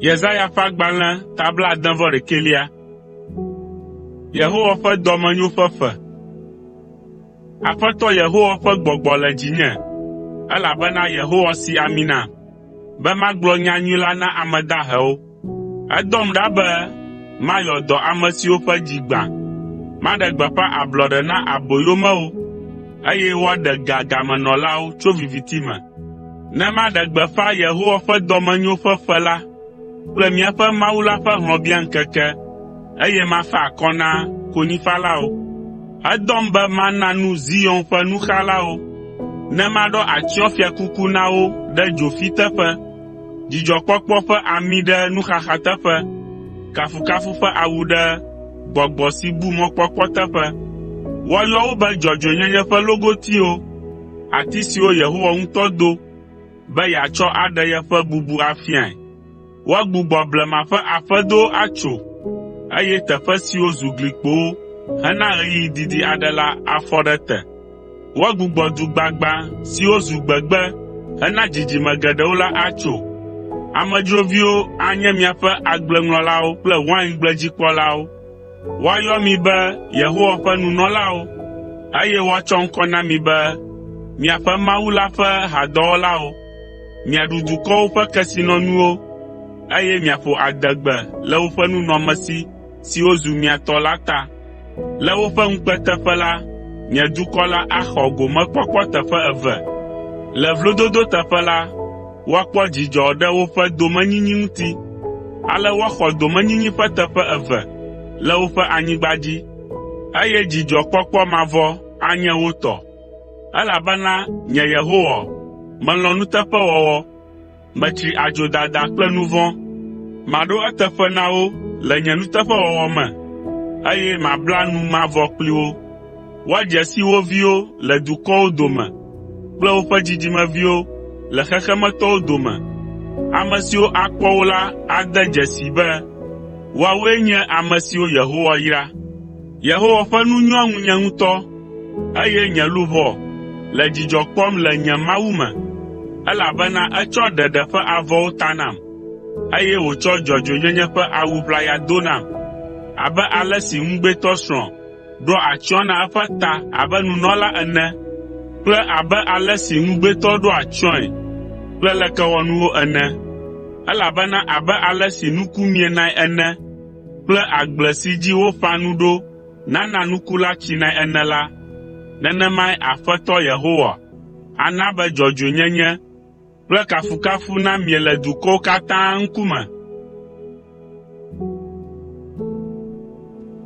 Yesaya ƒe agbalẽ ta blaade-vɔ-ɖekɛlia. Yehowa ƒe dɔmenyo ƒe ƒe. Aƒetɔ Yehowa ƒe gbɔgbɔ le dzinye, elabena Yehowa si ami nam, be magblɔ nyanyui la na ame dahewo, Edɔm ɖa be mayɔ dɔ ame siwo ƒe dzi gbã, maɖe gbeƒã ablɔɖe na aboyomewo, eye woaɖe ga gamenɔlawo tso viviti me, ne maɖe gbeƒã Yehowa ƒe dɔmenyo ƒe ƒe la kple míaƒe Mawu la ƒe hlɔ̃biaŋkeke, eye mafa akɔ na konyifalawo. Edɔm be mana nu Zion ƒe nuxalawo, ne maɖɔ atsyɔ̃fiakuku na wo ɖe dzofi teƒe. dzidzɔkpɔkpɔ ƒe ami ɖe nuxaxa teƒe, kafukafu ƒe awu ɖe gbɔgbɔ si bu mɔkpɔkpɔ teƒe. Woayɔ wo be dzɔdzɔenyenye ƒe logotiwo, ati siwo Yehowa ŋutɔ do be yeatsɔ aɖe yeƒe bubu afiae. Woagbugbɔ blema ƒe aƒedowo atso, eye teƒe siwo zu glikpowo hena ɣeyiɣi didi aɖe la afɔ ɖe te. Woagbugbɔ du gbagbã siwo zu gbegbe hena dzidzime geɖewo la atso. Amedzroviwo anye miaƒe agbleŋlɔlawo kple waingbledzigbekpɔlawo. Woayɔ mi be Yehowa ƒe nunɔlawo, eye woatsɔ ŋkɔ na mi be miaƒe Mawu la ƒe hadɔwɔlawo. Miaɖu dukɔwo ƒe kesinɔnuwo, eye miaƒo adegbe le woƒe nunɔamesi siwo zu mia tɔ la ta. Le woƒe ŋukpe teƒe la, nye dukɔ la axɔ gomekpɔkpɔ teƒe eve. Le vlododo teƒe la, woakpɔ dzidzɔ ɖe woƒe domenyinyi ŋuti. Ale woaxɔ domenyinyi ƒe teƒe eve le woƒe anyigba dzi, eye dzidzɔkpɔkpɔ mavɔ anye wo tɔ, elabena nye Yehowa, melɔ̃ nuteƒewɔwɔ. Metsri adzodada kple nu vɔ̃. Maɖo eteƒe na wo le nye nuteƒewɔwɔ me, eye mabla nu mavɔ kpli wo. Woadze si wo viwo le dukɔwo dome kple woƒe dzidzimeviwo le xexemetɔwo dome. Ame siwo akpɔ wo la ade dzesii be woawoe nye ame siwo Yehowa yra. Yehowa ƒe nu nyoa ŋunye ŋutɔ, eye nye luʋɔ le dzidzɔ kpɔm le nye Mawu me, elabena etsɔ ɖeɖe ƒe avɔwo ta nam, eye wòtsɔ dzɔdzɔenyenye ƒe awu ʋlaya do nam. Abe ale si ŋugbetɔsrɔ̃ ɖoa atsyɔ̃ na eƒe ta abe nunɔla ene kple abe ale si ŋugbetɔ ɖoa atsyɔ̃e kple lekewɔnuwo ene, elabena abe ale si nuku mienae ene, kple agble si dzi woƒã nu ɖo nana nuku la tsinae ene la, nenemae Aƒetɔ Yehowa ana be dzɔdzɔenyenye kple kafukafu namie le dukɔwo katã ŋkume.